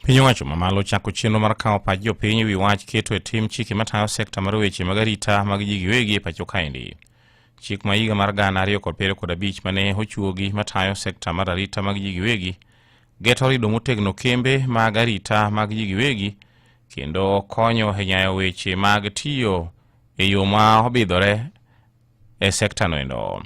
Piny owacho mamalo chako chenro mar kawo pach jopiny e wi wach keto e tim chike matayo sekta mar weche mag arita mag ji giwegi e pacho kaendi. Chik ma higa mar gana ariyo kod piero kod abich ma ne ochuogi matayo sekta mar arita mag ji giwegi geto rido motegno kembe mag arita mag ji giwegi kendo konyo e nyayo weche mag tiyo e yo ma obidhore e sekta noendo.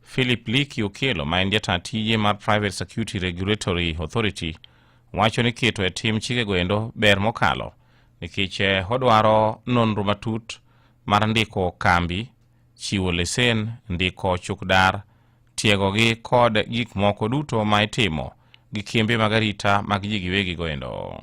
Philip Liki Okello ma en jata tije mar Private Security Regulatory Authority wacho ni keto e tim chikego endo ber mokalo nikech eh, odwaro nonro matut mar ndiko kambi, chiwo lesen, ndiko chukdar, tiegogi kod gik moko duto ma itimo gi kembe mag arita mag ji giwegigo endo.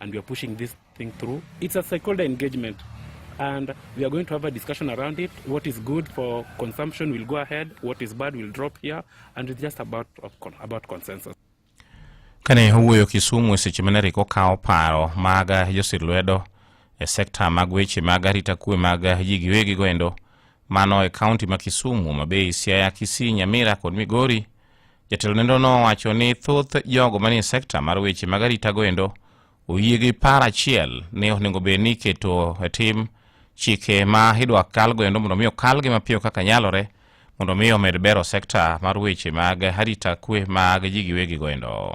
and we are pushing this thing through. It's a stakeholder engagement and we are going to have a discussion around it. What is good for consumption will go ahead, what is bad will drop here, and it's just about, about consensus. Kane owuoyo Kisumu e seche mane Rick okawo paro mag josir lwedo e sekta mag weche mag arita kwe mag ji giwegigo endo, Mano e kaunti ma Kisumu, Homa Bay, Siaya, Kisii, Nyamira kod Migori. Jatelo nendo no wacho ni thoth jogo manie sekta mar weche mag arita goendo oyie gi par achiel ni onego bed ni iketo e tim chike ma idwa kal goendo mondo mi okalgi mapiyo kaka nyalore mondo mi omed bero sekta mar weche mag arita kwe mag ji giwegi goendo.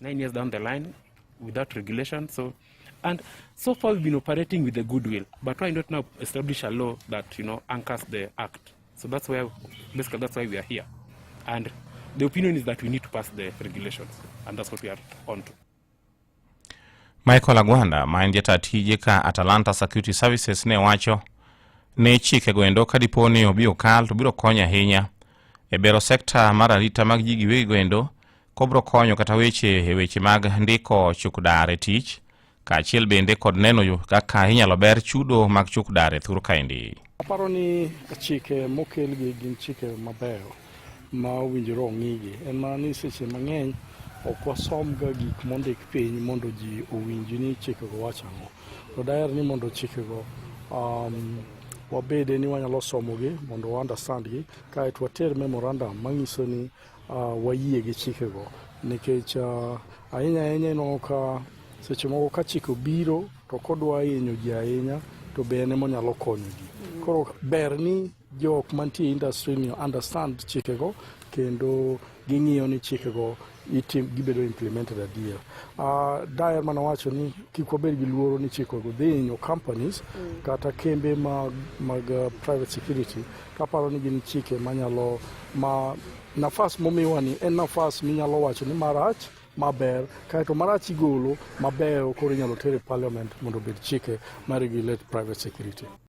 Nine years down the line without regulation. So, and so far we've been operating with the goodwill, but why not now establish a law that, you know, anchors the act? So that's where, basically that's why we are here. And the opinion is that we need to pass the regulations, and that's what we are on to. Michael Agwanda ma en jata tije ka Atalanta Security Services ne wacho ne chike goendo ka dipo ni obi okal to biro konyo ahinya e bero sekta mar arita mag ji giwegi goendo kobro konyo kata weche e weche mag ndiko chukdar e tich kaachiel bende kod neno kaka inyalo ber chudo mag chukdar e thur kaendi. Aparo ni chike mokelgi gin chike mabeyo ma owinjore ong'igi en mana ni seche mang'eny ok wasomga gik mondik piny mondo ji owinji ni chikego wacho ang'o to daher ni mondo chikego um, wabede ni wanyalo somogi mondo waunderstand gi kaeto water memorandum manyiso ni Uh, wayie gi chikego nikech uh, ahinya ahinya ineno ka seche moko ka chike obiro to kodwa hinyo ji ahinya to be en ema onyalo konyo ji koro ber ni jok mantie industry ni understand chikego kendo ging'iyo ni chikego itim gibedo implemented adier uh, daer mana wacho ni kik wabed gi luoro ni chikego dhi hinyo companies mm. kata kembe mag, mag uh, private security Kaparo ni gin chike manyalo ma nafas momiwa ni en nafas minyalo wacho ni marach maber kaeto marach igolo mabeyo koro inyalo ter e parliament mondo obed chike ma regulate private security.